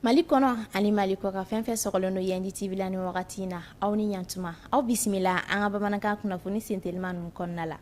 Mali kɔnɔ ani Mali kɔkan fɛn fɛn sɔgɔlen don Yendi TV la ni wagati in na aw ni ɲantuma aw bisimila an ka bamanankan kunnafoni sentelema ninnu kɔnɔna la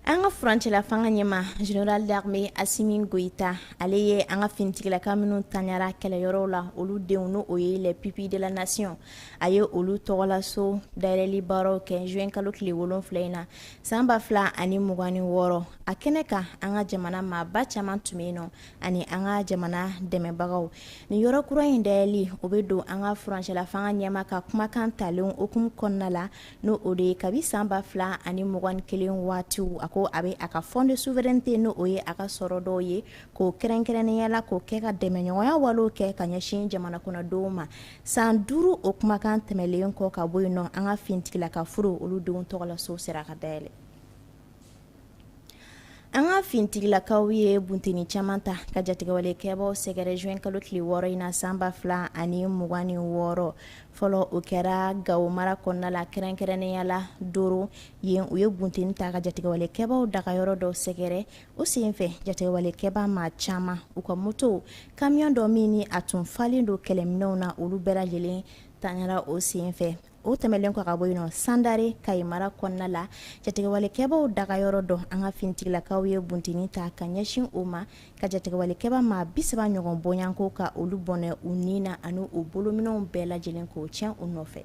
An ka furancɛla fanga ɲɛma Général d'armée Assimi Goïta, ale ye an ka finitigilaka minnu tanyara kɛlɛyɔrɔw la, olu denw n'o o ye les pupilles de la nation a ye olu tɔgɔlaso dayɛlɛli baaraw kɛ juin kalo tile wolonfila in na san 2026, a kɛnɛ kan an ka jamana maaba caman tun bɛ yen nɔ ani an ka jamana dɛmɛbagaw. Nin yɔrɔ kura in dayɛlɛli, o bɛ don an ka furancɛla fanga ɲɛma ka kumakan talen hukumu kɔnɔna la. n'o o de ye kabi san ba fila ani mugan kelen waatiw a ko a bɛ a ka fonds de souveraineté n'o ye a ka sɔrɔ dɔw ye k'o kɛrɛnkɛrɛnnenya la k'o kɛ ka dɛmɛɲɔgɔnya walew kɛ ka ɲɛsin jamana kɔnɔdenw ma san duuru o kumakan tɛmɛlen kɔ ka bɔ yen nɔ an ka finitigilaka furew olu denw tɔgɔlaso sera ka dayɛlɛ An ka finitigilakaw ye bunteni caman ta ka jatigɛwalekɛbaw sɛgɛrɛ juin kalo tile wɔɔrɔ in na san ba fila ani mugan ni wɔɔrɔ fɔlɔ o kɛra Gawo mara kɔnɔna la kɛrɛnkɛrɛnnenya la Doro yen u ye bunteni ta ka jatigɛwalekɛbaw dagayɔrɔ dɔ sɛgɛrɛ o senfɛ jatigɛwalekɛba maa caman u ka motow camion dɔ min ni a tun falen don kɛlɛminɛw na olu bɛɛ lajɛlen tanyara o senfɛ o tɛmɛlen kɔ ka bɔ yen nɔ Sandare Kayi mara kɔnɔna la jatigɛwalekɛbaw dagayɔrɔ dɔ an ka finitigilakaw ye bunteni ta ka ɲɛsin o ma ka jatigɛwalekɛba maa bisaba ɲɔgɔn bɔɲanko ka olu bɔnɛ u ni na ani u bolominɛw bɛɛ lajɛlen k'o tiɲɛ u nɔfɛ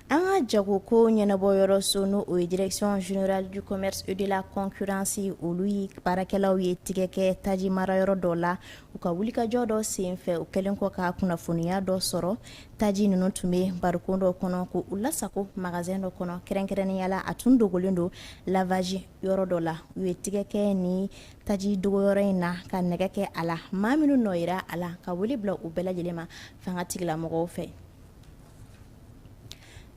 an ka jagoko ɲɛnabɔyɔrɔso n'o o ye direction générale du commerce et de la concurrence olu ye baarakɛlaw ye tigɛ kɛ taji marayɔrɔ dɔ la u ka wulikajɔ dɔ sen fɛ u kɛlen kɔ ka kunnafoniya dɔ sɔrɔ taji ninnu tun bɛ barikon dɔ kɔnɔ k'u lasago magasin dɔ kɔnɔ kɛrɛnkɛrɛnnenya la a tun dogolen don lavage yɔrɔ dɔ la u ye tigɛ kɛ ni taji dogoyɔrɔ in na ka nɛgɛ kɛ a la maa minnu nɔ yera a la ka wele bila u bɛɛ lajɛlen ma fangatigilamɔgɔw fɛ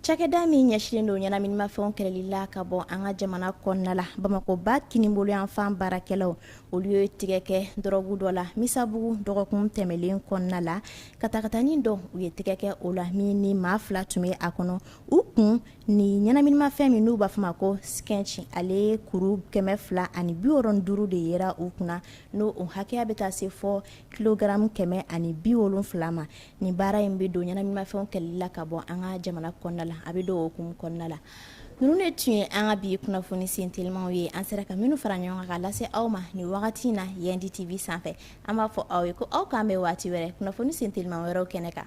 Cakɛda min ɲɛsinlen don ɲɛnaminimafɛnw kɛlɛli la ka bɔ an ka jamana kɔnɔna la Bamakɔ ba kinibolo yanfan baarakɛlaw olu ye tigɛ kɛ dɔrɔgu dɔ la Misabugu dɔgɔkun tɛmɛlen kɔnɔna la katakatanin dɔ u ye tigɛ kɛ o la min ni maa fila tun bɛ a kɔnɔ u kun ni ɲɛnaminimafɛn min n'u b'a fɔ ma ko skentch ale kuru kɛmɛ fila ani bi wɔɔrɔ ni duuru de yera u kunna n'o o hakɛya bɛ taa se fɔ kilogaramu kɛmɛ ani bi wolonfila ma nin baara in bɛ don ɲɛnaminimafɛnw kɛlɛli la ka bɔ an ka jamana kɔnɔna la a bɛ don o hukumu kɔnɔna la ninnu de tun ye an ka bi kunnafoni sen telimaw ye an sera ka minnu fara ɲɔgɔn kan ka lase aw ma nin wagati in na yan di tv sanfɛ an b'a fɔ aw ye ko aw k'an bɛn waati wɛrɛ kunnafoni sen telima wɛrɛw kɛnɛ kan